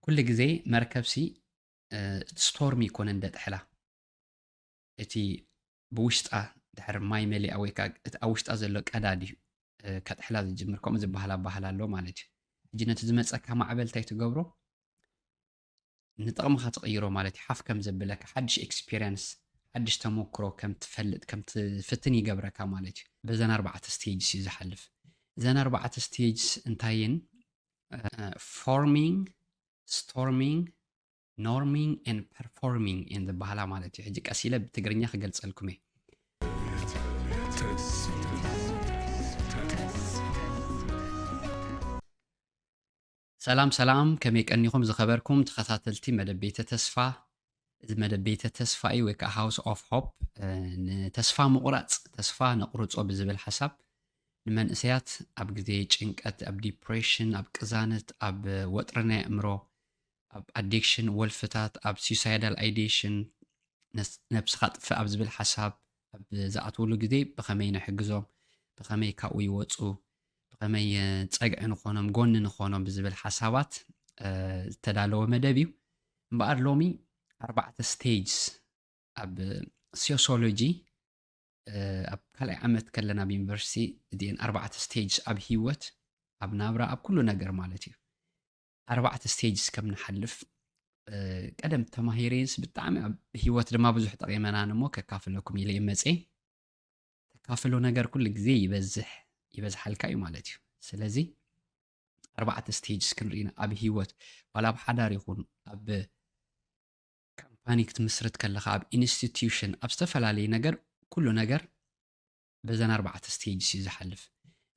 ኩሉ ግዜ መርከብሲ ስቶርሚ ኣይኮነን ደጥሕላ እቲ ብውሽጣ ድሕሪ ማይ መሊኣ ወይ ከዓ እቲ ኣብ ውሽጣ ዘሎ ቀዳድ እዩ ከጥሕላ ዝጅምር ከምኡ ዝበሃል ኣባህላ ኣሎ ማለት እዩ ሕጂ ነቲ ዝመፀካ ማዕበል እንታይ ትገብሮ ንጥቕምኻ ትቕይሮ ማለት እዩ ሓፍ ከም ዘብለካ ሓድሽ ኤክስፔሪንስ ሓድሽ ተመክሮ ከም ትፈልጥ ከም ትፍትን ይገብረካ ማለት እዩ በዘን ኣርባዕተ ስቴጅስ እዩ ዝሓልፍ እዘን ኣርባዕተ ስቴጅስ እንታይን ፎርሚንግ ስቶርሚንግ ኖርሚንግ ን ፐርፎርሚንግ እየን ዝበሃላ ማለት እዩ ሕጂ ቀስ ኢለ ብትግርኛ ክገልፀልኩም እየ ሰላም ሰላም ከመይ ቀኒኹም ዝኸበርኩም ተኸታተልቲ መደብ ቤተ ተስፋ እዚ መደብ ቤተ ተስፋ እዩ ወይ ከዓ ሃውስ ኦፍ ሆፕ ንተስፋ ምቑራፅ ተስፋ ነቑርፆ ብዝብል ሓሳብ ንመንእሰያት ኣብ ግዜ ጭንቀት ኣብ ዲፕሬሽን ኣብ ቅዛነት ኣብ ወጥሪ ናይ ኣእምሮ ኣብ ኣዲክሽን ወልፍታት ኣብ ሱሳይዳል ኣይዴሽን ነብስኻ ጥፍእ ኣብ ዝብል ሓሳብ ኣብ ዝኣትውሉ ግዜ ብኸመይ ንሕግዞም ብኸመይ ካብኡ ይወፁ ብኸመይ ጸግዒ ንኾኖም ጎኒ ንኾኖም ብዝብል ሓሳባት ዝተዳለወ መደብ እዩ እምበኣር ሎሚ ኣርባዕተ ስቴጅስ ኣብ ሲዮሶሎጂ ኣብ ካልኣይ ዓመት ከለና ኣብ ዩኒቨርሲቲ እዚአን ኣርባዕተ ስቴጅ ኣብ ሂወት ኣብ ናብራ ኣብ ኩሉ ነገር ማለት እዩ ኣርባዕተ ስቴጅስ ከም ንሓልፍ ቀደም ተማሂረንስ ብጣዕሚ ኣብ ሂወት ድማ ብዙሕ ጠቂመናን እሞ ከካፍለኩም ኢለ መፀ ተካፍሎ ነገር ኩሉ ግዜ ይበዝሕ ይበዝሓልካ እዩ ማለት እዩ ስለዚ ኣርባዕተ ስቴጅስ ክንርኢና ኣብ ሂወት ዋላ ኣብ ሓዳር ይኹን ኣብ ካምፓኒ ክትምስርት ከለካ ኣብ ኢንስቲትዩሽን ኣብ ዝተፈላለየ ነገር ኩሉ ነገር በዘን ኣርባዕተ ስቴጅስ እዩ ዝሓልፍ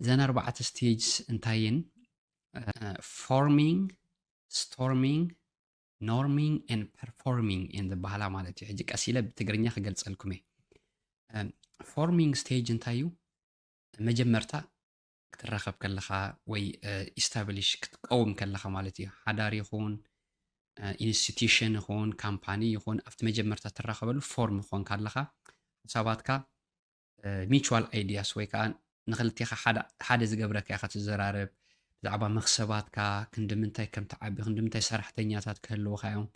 እዘን ኣርባዕተ ስቴጅስ እንታይን ፎርሚንግ ስቶርሚንግ ኖርሚንግ ን ፐርፎርሚንግ እየን ዝበሃላ ማለት እዩ ሕጂ ቀስ ኢለ ብትግርኛ ክገልፀልኩም እየ ፎርሚንግ ስቴጅ እንታይ እዩ መጀመርታ ክትራኸብ ከለኻ ወይ ኢስታብሊሽ ክትቀውም ከለኻ ማለት እዩ ሓዳር ይኹን ኢንስቲትዩሽን ይኹን ካምፓኒ ይኹን ኣብቲ መጀመርታ ትራኸበሉ ፎርም ክኾንካ ኣለኻ ሓሳባትካ ሚቹዋል ኣይድያስ ወይ ከኣ ንኽልቴኻ ሓደ ሓደ ዝገብረካ ኢኻ ትዘራረብ። ብዛዕባ መኽሰባትካ ክንዲ ምንታይ ከም ትዓቢ፣ ክንዲ ምንታይ ሰራሕተኛታት ክህልዉኻ እዮም፣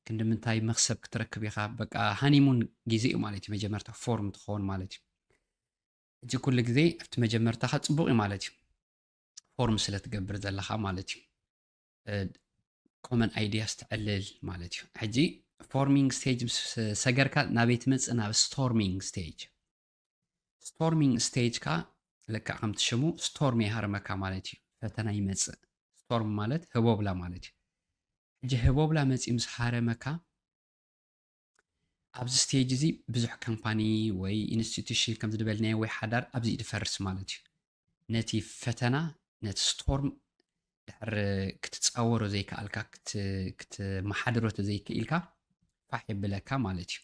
ክንዲ ምንታይ መኽሰብ ክትረክብ ኢኻ፣ በቃ ሃኒሙን ግዜ እዩ ማለት እዩ መጀመርታ ፎርም ትኸውን ማለት እዩ። እዚ ኩሉ ግዜ ኣብቲ መጀመርታኻ ጽቡቕ እዩ ማለት እዩ ፎርም ስለ ትገብር ዘለኻ ማለት እዩ። ኮመን ኣይዲያስ ትዕልል ማለት እዩ ሕጂ ፎርሚንግ ስቴጅ ምስ ሰገርካ ናበይ ትመፅእ ናብ ስቶርሚንግ ስቴጅ ስቶርሚንግ ስቴጅ ካ ልክዕ ከምቲ ሽሙ ስቶርም ይሃርመካ ማለት እዩ ፈተና ይመፅእ ስቶርም ማለት ህቦብላ ማለት እዩ ሕጂ ህቦብላ መፂኡ ምስ ሃረመካ ኣብዚ ስቴጅ እዚ ብዙሕ ካምፓኒ ወይ ኢንስቲቱሽን ከም ዝደበልናዮ ወይ ሓዳር ኣብዚ እዩ ዝፈርስ ማለት እዩ። ነቲ ፈተና ነቲ ስቶርም ድሕሪ ክትጻወሮ ዘይከኣልካ ክትመሓድሮ ተዘይክኢልካ ፋሕ የብለካ ማለት እዩ።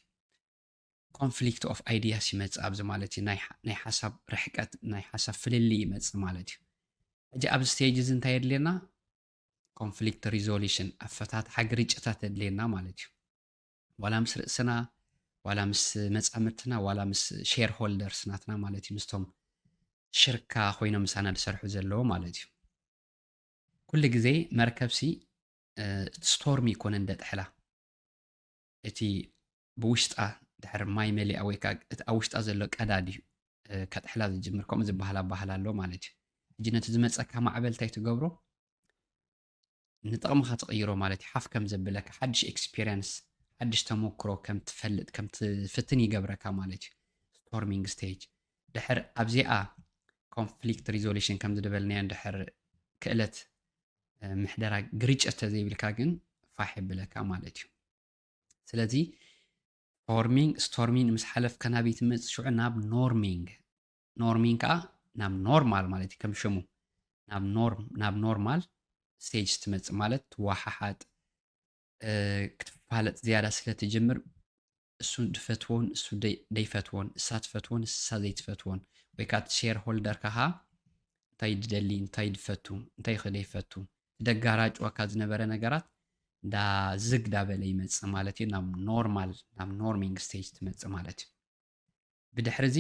ኮንፍሊክት ኦፍ ኣይዲያስ ይመጽእ ኣብዚ ማለት እዩ ናይ ሓሳብ ርሕቀት ናይ ሓሳብ ፍልልይ ይመጽእ ማለት እዩ ሕጂ ኣብዚ ስቴጅ እዚ እንታይ የድልየና ኮንፍሊክት ሪዞሉሽን ኣፈታትሓ ግርጭታት የድልየና ማለት እዩ ዋላ ምስ ርእስና ዋላ ምስ መጻምድትና ዋላ ምስ ሼር ሆልደርስ ናትና ማለት እዩ ምስቶም ሽርካ ኮይኖም ምሳና ዝሰርሑ ዘለዎ ማለት እዩ ኩሉ ግዜ መርከብሲ ስቶርሚ ይኮነን ደጥሕላ እቲ ብውሽጣ ድሕር ማይ መሊኣ ወይ ከዓ እቲ ኣብ ውሽጣ ዘሎ ቀዳድ እዩ ከጥሕላ ዝጅምር ከምኡ ዝበሃል ኣባህላ ኣሎ ማለት እዩ ሕጂ ነቲ ዝመፀካ ማዕበል እንታይ ትገብሮ ንጥቕምኻ ትቕይሮ ማለት እዩ ሓፍ ከም ዘብለካ ሓድሽ ኤክስፒሪየንስ ሓድሽ ተመክሮ ከም ትፈልጥ ከም ትፍትን ይገብረካ ማለት እዩ ስቶርሚንግ ስቴጅ ድሕር ኣብዚኣ ኮንፍሊክት ሪዞሉሽን ከም ዝደበልናዮ ድሕር ክእለት ምሕደራ ግርጭት ተዘይብልካ ግን ፋሕ የብለካ ማለት እዩ ስለዚ ፎርሚንግ ስቶርሚንግ ምስ ሓለፍካ ናበይ ትመፅእ ሽዑ ናብ ኖርሚንግ ኖርሚን ከዓ ናብ ኖርማል ማለት እዩ ከም ሽሙ ናብ ኖርም ናብ ኖርማል ስቴጅ ስትመፅእ ማለት ትወሓሓጥ ክትፋለጥ ዝያዳ ስለ ትጅምር እሱ ድፈትዎን እሱ ደይፈትዎን እሳ ትፈትዎን እሳ ዘይትፈትዎን ወይ ከዓ ሼር ሆልደር ካሃ እንታይ ድደሊ እንታይ ድፈቱ እንታይ ኸ ደይፈቱ ደጋራጭዋካ ዝነበረ ነገራት እንዳ ዝግ ዳበለ ይመፅእ ማለት እዩ ናብ ኖርማል ናብ ኖርሚንግ ስቴጅ ትመፅእ ማለት እዩ ብድሕርዚ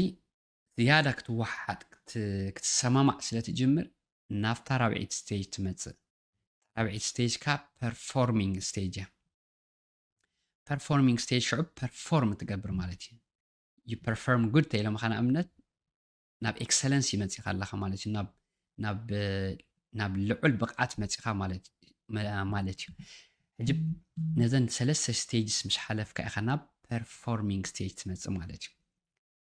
ዝያዳ ክትወሓሓጥ ክትሰማማዕ ስለ ትጅምር ናብታ ራብዒት ስቴጅ ትመጽእ። እታ ራብዒት ስቴጅ ከኣ ፐርፎርሚንግ ስቴጅ እያ። ፐርፎርሚንግ ስቴጅ ሽዑ ፐርፎርም ትገብር ማለት እዩ። ዩ ፐርፎርም ጉድ ተኢሎምኻ ንኣብነት ናብ ኤክሰለንስ ይመጺኻ ኣለኻ ማለት እዩ ናብ ናብ ልዑል ብቕዓት መፂኻ ማለት ማለት እዩ ሕጂ ነዘን ሰለስተ ስቴጅስ ምስ ሓለፍካ ኢኻ ናብ ፐርፎርሚንግ ስቴጅ ትመፅእ ማለት እዩ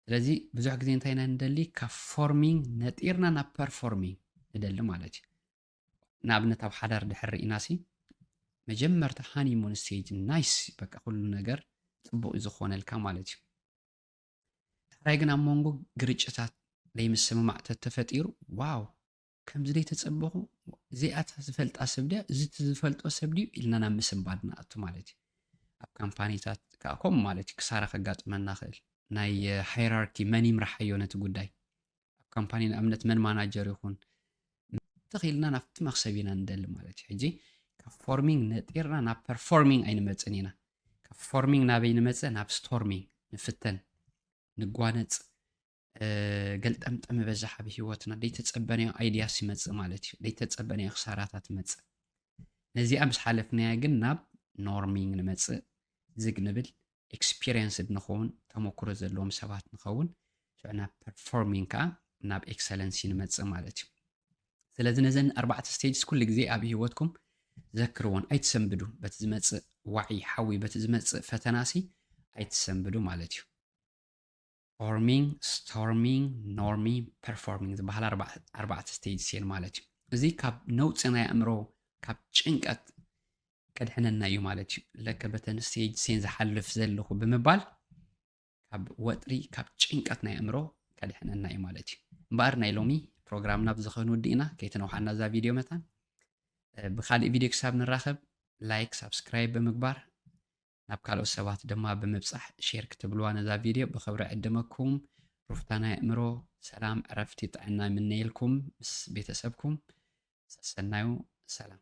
ስለዚ ብዙሕ ግዜ እንታይ ኢና ንደሊ ካብ ፎርሚንግ ነጢርና ናብ ፐርፎርሚንግ ንደሊ ማለት እዩ ንኣብነት ኣብ ሓዳር ድሕር ኢና ሲ መጀመርታ ሃኒሙን ስቴጅ ናይስ በቃ ኩሉ ነገር ፅቡቅ እዩ ዝኾነልካ ማለት እዩ ዳሕራይ ግን ኣብ መንጎ ግርጭታት ደይምስምማዕ ተተፈጢሩ ዋው ከምዚ ደይተጸበኹ እዚኣታ ዝፈልጣ ሰብ ድያ እዚ ዝፈልጦ ሰብ ድዩ ኢልና ናብ ምስንባድ ንኣቱ ማለት እዩ። ኣብ ካምፓኒታት ከኣ ከምኡ ማለት እዩ ክሳራ ከጋጥመና ክእል ናይ ሃይራርኪ መን ይምርሓዮ ነቲ ጉዳይ ኣብ ካምፓኒ ንኣብነት መን ማናጀር ይኹን እንተኺልና ናብቲ መክሰብ ኢና ንደሊ ማለት እዩ ሕጂ ካብ ፎርሚንግ ነጢርና ናብ ፐርፎርሚንግ ኣይንመፅን ኢና ካብ ፎርሚንግ ናበይ ንመፅእ ናብ ስቶርሚንግ ንፍተን ንጓነፅ ገልጠምጠም በዛሕ ኣብ ሂወትና ደይተፀበናዮ ኣይድያስ ይመፅእ ማለት እዩ ደይተፀበናዮ ክሳራታት ይመፅእ ነዚኣ ምስ ሓለፍናያ ግን ናብ ኖርሚንግ ንመፅእ ዝግ ንብል ኤክስፒሪየንስድ ንኸውን፣ ተመኩሮ ዘለዎም ሰባት ንኸውን፣ ሽዑ ናብ ፐርፎርሚንግ ከኣ ናብ ኤክሰለንሲ ንመጽእ ማለት እዩ። ስለዚ ነዘን ኣርባዕተ ስቴጅስ ኩሉ ግዜ ኣብ ህይወትኩም ዘክርዎን ኣይትሰንብዱ፣ በቲ ዝመጽእ ዋዒ ሓዊ፣ በቲ ዝመጽእ ፈተናሲ ኣይትሰንብዱ ማለት እዩ። ፎርሚንግ፣ ስቶርሚንግ፣ ኖርሚንግ፣ ፐርፎርሚንግ ዝበሃል ኣርባዕተ ስቴጅስ እየን ማለት እዩ። እዚ ካብ ነውፂ ናይ ኣእምሮ ካብ ጭንቀት ከድሕነና እዩ ማለት እዩ። ለከ በተን ስቴጅ ሴን ዝሓልፍ ዘለኹ ብምባል ካብ ወጥሪ ካብ ጭንቀት ናይ ኣእምሮ ከድሕነና እዩ ማለት እዩ እምበኣር ናይ ሎሚ ፕሮግራምና ብዚ ክንውዲ ኢና ከይተነውሓና እዛ ቪድዮ መታን ብካሊእ ቪድዮ ክሳብ ንራኸብ ላይክ ሳብስክራይብ ብምግባር ናብ ካልኦት ሰባት ድማ ብምብጻሕ ሼር ክትብልዋ ነዛ ቪድዮ ብኽብሪ ዕድመኩም ሩፍታ ናይ ኣእምሮ ሰላም ዕረፍቲ ጥዕና ይምነየልኩም ምስ ቤተሰብኩም ሰሰናዩ ሰላም